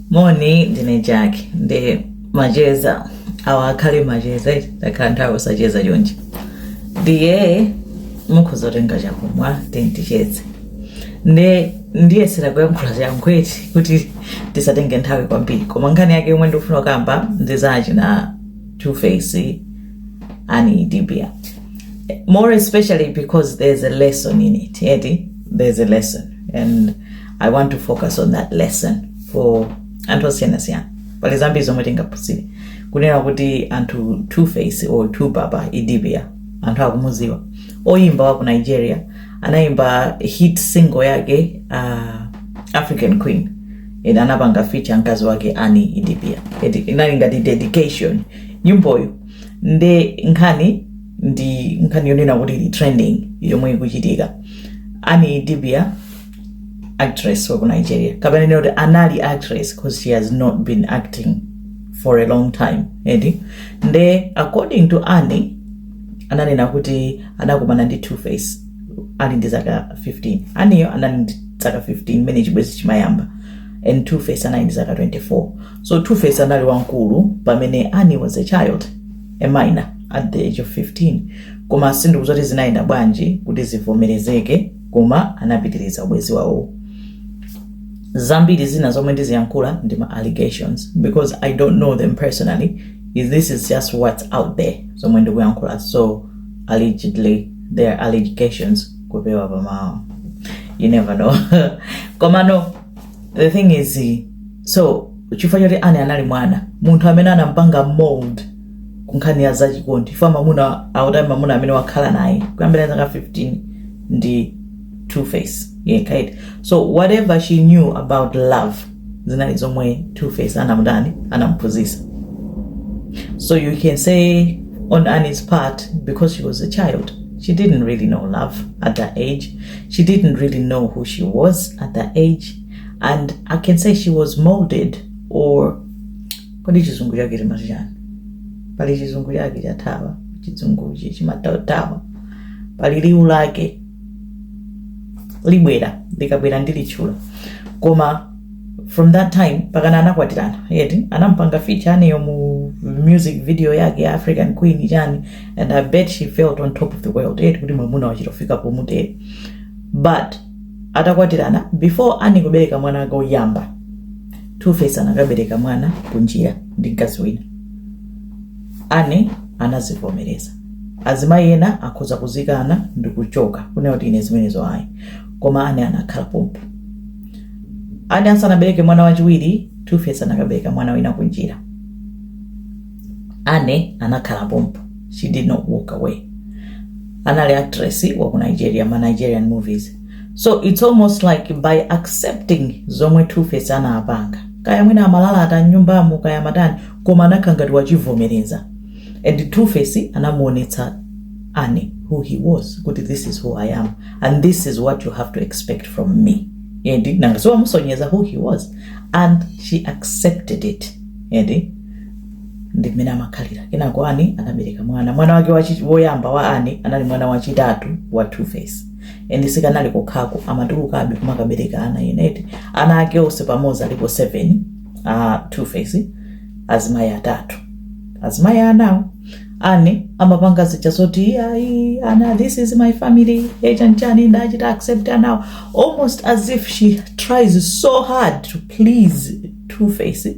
moni ndine jack ndiye macheza awa akhale macheza eti takhala nthawi osacheza chonchi ndiye mukhoza kutenga chakumwa tindicheze ndiye ndiyesera kuyankhula mwachangu eti kuti tisatenge nthawi kwambiri koma nkhani yake yomwe ndikufuna kukamba ndi za achina two face Annie idibia more especially because there's a lesson in it eti there's a lesson and i want to focus on that lesson for anthu osiyanasiyana pali zambiri zomwe tingaphunzire kunena kuti anthu two face or two baba idibia anthu akumudziwa oyimba wa ku nigeria anayimba hit single yake uh, african queen and anapanga feature mkazi wake Annie idibia inali ngati dedication nyimboyo nde nkhani ndi nkhani yonena kuti ili trending yomwe ikuchitika Annie idibia actress wa ku nigeria kapena ndinene kuti anali actress because she has not been acting for a long time eti nde according to annie ananena kuti anakumana ndi two face ali ndi zaka 15 Annie-yo anali ndi zaka 15 mmene chibwezi chimayamba and two face anali ndi zaka 24 so two face anali wamkulu pamene annie was a child a minor at the age of 15 koma sindikudziwa kuti zinayenda bwanji kuti zivomerezeke koma anapitiriza ubwezi wawo zambiri zina zomwe ndiziyankhula ndi ma allegations because i don't know them personally this is just what's out there zomwe ndikuyankhula so allegedly they are allegations kupewa pamawa you never know komano the thing is so chifukwa choti Annie anali mwana munthu amene anampanga mold ku nkhani ya zachikondi chifukwa mwamuna akuti mwamuna amene wakhala naye kuyambira zaka 15 ndi two face yekha eti so whatever she knew about love zinali zomwe two face anamutani anamuphunzitsa so you can say on Annie's part, because she was a child, she didn't really know love at that age. She didn't really know who she was at that age. And I can say she was molded or kodi chizungu chake timati chani pali chizungu chake chathawa chizunguchi chimathawathawa pali liwu lake libwera likabwera ndilitchula koma from that time pakana anakwatirana eti anampanga feature Annie-yo mu music video yake ya african queen chani and i bet she felt on top of the world eti kuti mwamuna wachitofika pomutero but atakwatirana before Annie kubereka mwana wake woyamba Two Face anakabereka mwana kunjira ndi mkazi wina Annie anazivomereza azimayi ena akhoza kuzikana ndi kuchoka kunena kuti ine zimenezo ayi koma Annie anakhala pompo Annie asanabereke mwana wachiwiri Two Face anakabereka mwana wina kunjira Anne anakhala pompo. She did not walk away. Anali actress wa ku Nigeria, ma Nigerian movies. So it's almost like by accepting zomwe Two-Face anapanga. Kaya mwina amalalata nyumbamo kaya matani koma anakhala ngati wachivomereza. And Two-Face anamuonetsa Anne who he was kuti this is who I am and this is what you have to expect from me. Eti nanga si wamusonyeza who he was and she accepted it. Eti. ndi mmene amakhalira kenako ani anabereka mwana mwana wake wachi- woyamba wa ani anali mwana wachitatu wa two face and sikanali kokhako amatulukabe kumakabereka ana eneti ana ake onse pamodzi alipo 7 a two face azimayi atatu azimayi anawo ani amapanga zija zoti ayi ana this is my family echanchani ndachita accept anawa almost as if she tries so hard to please two face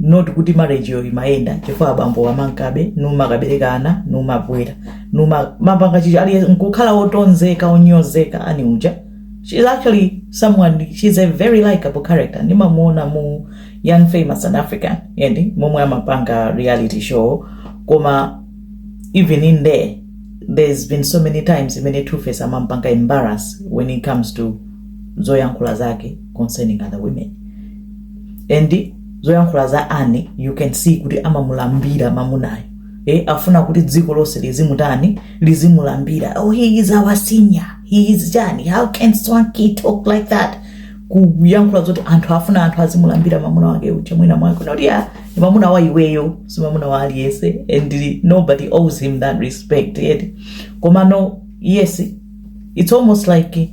not kuti marriage-yo imayenda chifukwa abambowa amamkabe numakabereka ana numabwera numapanga choncho ali nkukhala otonzedwa onyozeka ani uja she is actually someone she is a very likable character ndimamuona mu young famous and african eti momwe amapanga reality show koma even in there there's been so many times imene two face amampanga embarrass when it comes to zoyankhula zake concerning other women and zoyankhula za Anne you can see kuti amamulambira mamunayo eh, afuna kuti dziko lonse lizimutani lizimulambira oh, he is our senior he is chani how can swanky talk like that kuyankhula zoti anthu afuna anthu azimulambira mamuna wake uja mwina mwake not kuti ndi mamuna wa iweyo si mamuna wa aliyense and nobody owes him that respect eti komano yes it's almost like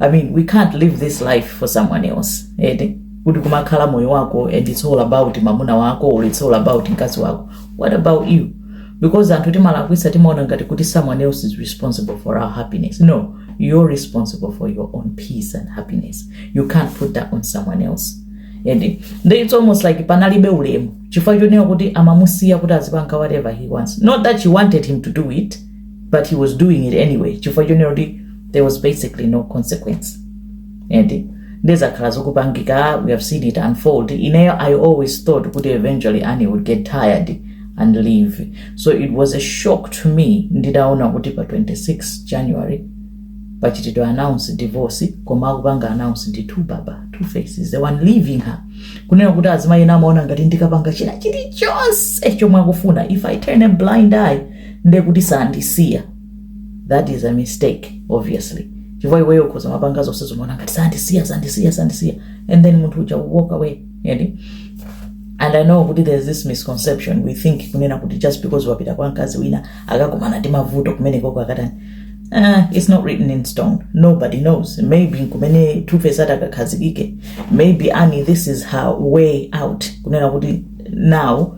i mean we can't live this life for someone else ede kuti kumakhala moyo wako and it's all about mamuna wako or it's all about mkazi wako what about you because anthu timalakwisa timaona ngati kuti someone else is responsible for our happiness no you're responsible for your own peace and happiness you can't put that on someone else and then it's almost like panalibe ulemu chifukwa chonena kuti amamusiya kuti azipanga whatever he wants not that she wanted him to do it but he was doing it anyway chifukwa chonena kuti there was basically no consequence eti nde zakhala zikupangika we have seen it unfold ineyo i always thought kuti eventually annie would get tired and leave so it was a shock to me nditaona kuti pa 26 january pachitidwa announce divorce koma akupanga announce ndi two baba two face is the one leaving her kunena kuti azimayi ena amaona ngati ndikapanga china chilichonse chomwe akufuna if i turn a blind eye ndekuti sandisiya that is a mistake obviously chifukwa iweyo ukhoza kumapanga zonse zomaona ngati sandisiya sandisiya sandisiya and then munthu uja walks away yani and i know kuti there's this misconception we think kunena kuti just because wapita kwa mkazi wina akakumana ndi mavuto kumene koko akatani Uh, it's not written in stone. Nobody knows. Maybe kumene Two Face atakakhazikike. Maybe Annie, this is her way out. Kunena kuti now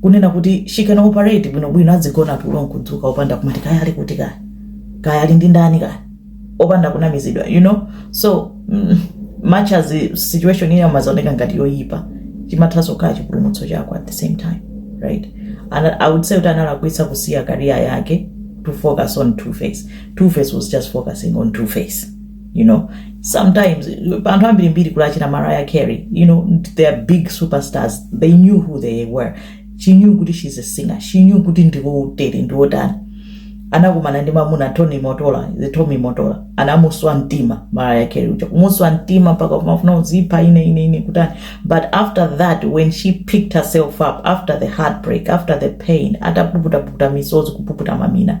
kunena kuti she can operate bwinobwino adzigona tulo nkudzuka opanda kumati kaya ali kuti kaya kaya ali ndi ndani kaya opanda kunamizidwa you know so mm, much as the situation ina imadzaoneka ngati yoyipa chimathanso kukhala chipulumutso chako at the same time right and i would say kuti analakwitsa kusiya career yake to focus on two face two face was just focusing on two face you know sometimes anthu ambirimbiri kuti achina mariah carey you know they are big superstars they knew who they were she knew kuti she's a singer she knew kuti ndiwotere ndiwotani anakumana ndi mamuna tommy mottola the tommy mottola anamuswa mtima mariah carey uja kumuswa mtima mpaka kumafuna kudzipha ine ine ine kutani but after that when she picked herself up after the heartbreak after the pain atapuputapukuta misozi kupuputa mamina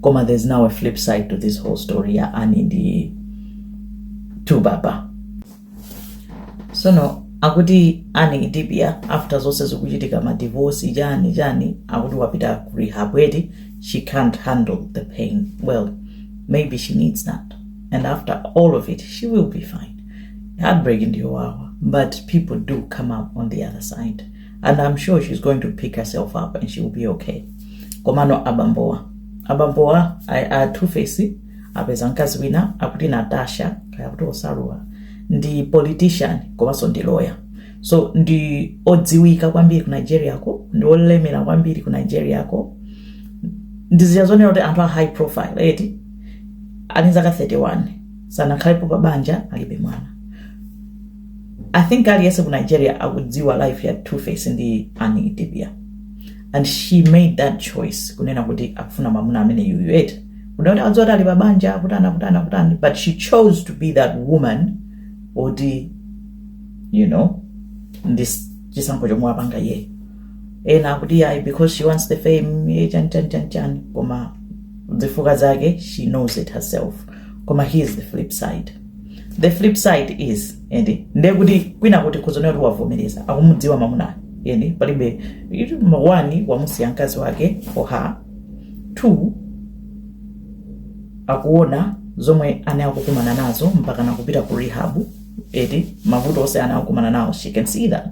koma there's now a flip side to this whole story ya ani ndi tubaba sono akuti ani idibia after zonse zikuchitika madivosi chani chani akuti wapita ku rehab eti she can't handle the pain well maybe she needs that and after all of it she will be fine heartbreak ndiyowawa but people do come up on the other side and i'm sure she's going to pick herself up and she will be okay komano abambowa abambowa a- a two face apeza mkazi wina akuti natasha kaya kuti osawaru ndi politician komanso ndi lawyer so ndi odziwika kwambiri ku nigeria ko ndi olemera kwambiri ku nigeria ko ndi zija zonena kuti anthu a high profile eti ali zaka 31 sanakhalepo pa banja alibe mwana I think aliyense ku Nigeria akudziwa life ya Two Face ndi Annie Idibia and she made that choice kunena kuti akufuna mamuna ameneyuyu eti kuda kuti akudziwa kuti ali pa banja kutana kutana kutani but she chose to be that woman oti you know ndi chisankho chomwe wapanga iyeyo ena akuti ayi because she wants the fame eh, chani chani chani chani koma zifukwa zake she knows it herself koma here's the flip side the flip side is ende ndiye kuti kwina kuti n'zonena kuti wavomereza akumudziwa mamunayo ende palibe itu- ma- one wamusiya mkazi wake for her two akuona zomwe annie akukumana nazo mpaka nakupita ku rehab eti mavuto onse annie akukumana nawo she can see that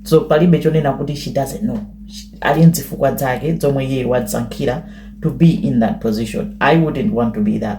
so palibe chonena kuti she doesn't know She- ali nzifukwa zake zomwe iye wadzisankhira to be in that position i wouldn't want to be that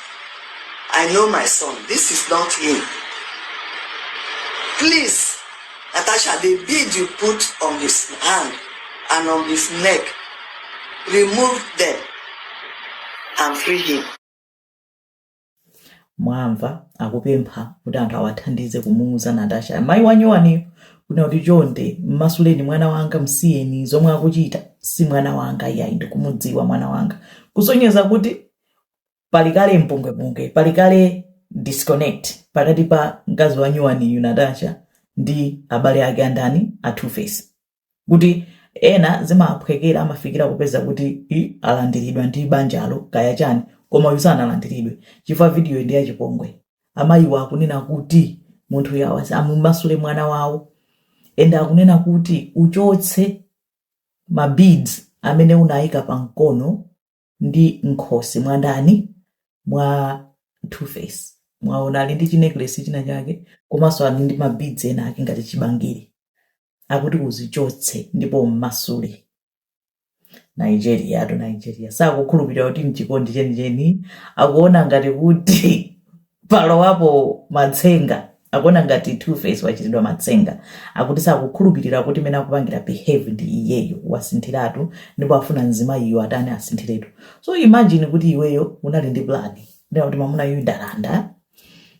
I know my son. This is not him. Please, Natasha, the bead you put on his hand and on his neck, remove them and free him. mwamva akupempha kuti anthu awathandize kumuuza natasha amayi wanyowaniyo kunena kuti chonde mmasuleni mwana wanga msiyeni zomwe akuchita si mwana wanga iyayi ndikumudziwa mwana wanga kusonyeza kuti pali kale mpungwepungwe pali kale disconnect pakati pa mkazi wa nyuwaniyu natasha ndi abale ake andani a two face kuti ena zimaphwekera amafikira kupeza kuti alandiridwa ndi banjalo kaya chani koma uyu sanalandiridwe chifukwa vidiyo ndi yachipongwe amayiwa akunena kuti munthu uyu amumasule mwana wawo ende akunena kuti uchotse ma beads amene unayika pa mkono ndi m'khosi mwa ndani? Mwa Two Face. Mwaona ali ndi chinekilesi china chake komanso ali ndi mabidzi ena ake ngati chibangiri. Akuti uzichotse ndipo ummasule. Nigeriatu Nigeria sakukhulupirira kuti n'chikondi chenicheni akuona ngati kuti palowapo matsenga akuona ngati two face wachitidwa matsenga akuti sakukhulupilira kuti mmene akupangira behave ndi iyeyo wasinthiratu ndipo afuna mzimayiyu atani asinthiretu so imagine kuti iweyo unali ndi plan yonena kuti mamuna uyu ndalanda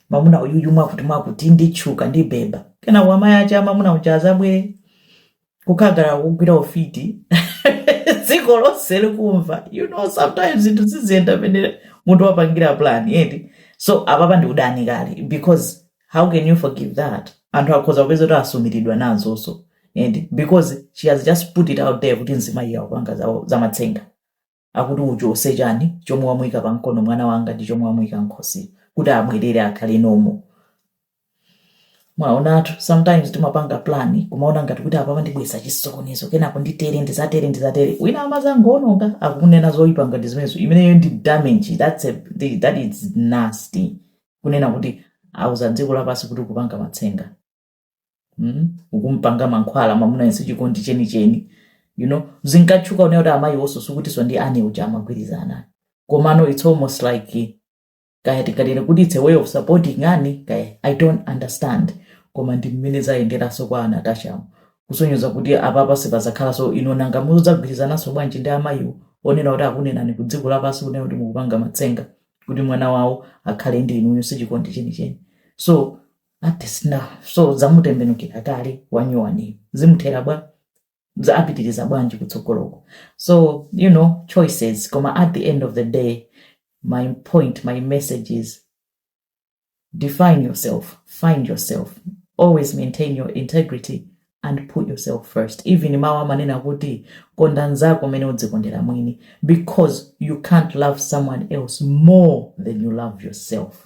mamuna uyuyu mwakuti mwakuti nditchuka ndibeba kenako amayi ache amamuna uja azabwere kukakhala kukugwira ufiti dziko lonse likumva you know sometimes zinthu siziyenda pamene munthu wapangira plan eti so apapa ndi udani kale because how can you forgive that anthu akhoza kupeza kuti asumirana nazonso eti because she has just put it out there kuti mzimayiyu akupanga za- zamatsenga akuti, Uchose chani chomwe wamuika pa mkono mwana wanga ndi chomwe wamuika m'khosi kuti abwerere akhale normal. Mwaonatu, sometimes timapanga plan kumaona ngati kuti apapa ndibweretsa chisokonezo kenako nditere ndizatere ndizatere wina amazangoononga akukunena zoipa ngati zimenezo imeneyo ndi damage that's a, the- that is nasty kunena kuti auza dziko lapansi kuti ukupanga matsenga mm? ukumpanga mankhwala mamunayo si chikondi chenicheni you know zinkatchuka kunena kuti amayiwonso sikutinso ndi ane uja amagwirizana komano it's almost like kaya tikatere kuti it's a way of supporting ani kaya i don't understand koma ndi mmene zayenderanso kwa a Natasha kusonyeza kuti apapa sipazakhalanso yino nanga mudzagwirizananso bwanji ndi amayiwo onena kuti akunenani ku dziko lapansi kunena kuti mukupanga matsenga kuti mwana wawo akhale ndi inuyo sichikondi chenicheni so Baptist now so zamutembenukila kale wanyuwaniyu zimuthela bwa? Za apitiliza bwanji kutsogoloko? So you know choices koma at the end of the day my point my message is define yourself, find yourself, always maintain your integrity and put yourself first even mawu amanena kuti konda nzako mene udzikondela mwini because you can't love someone else more than you love yourself.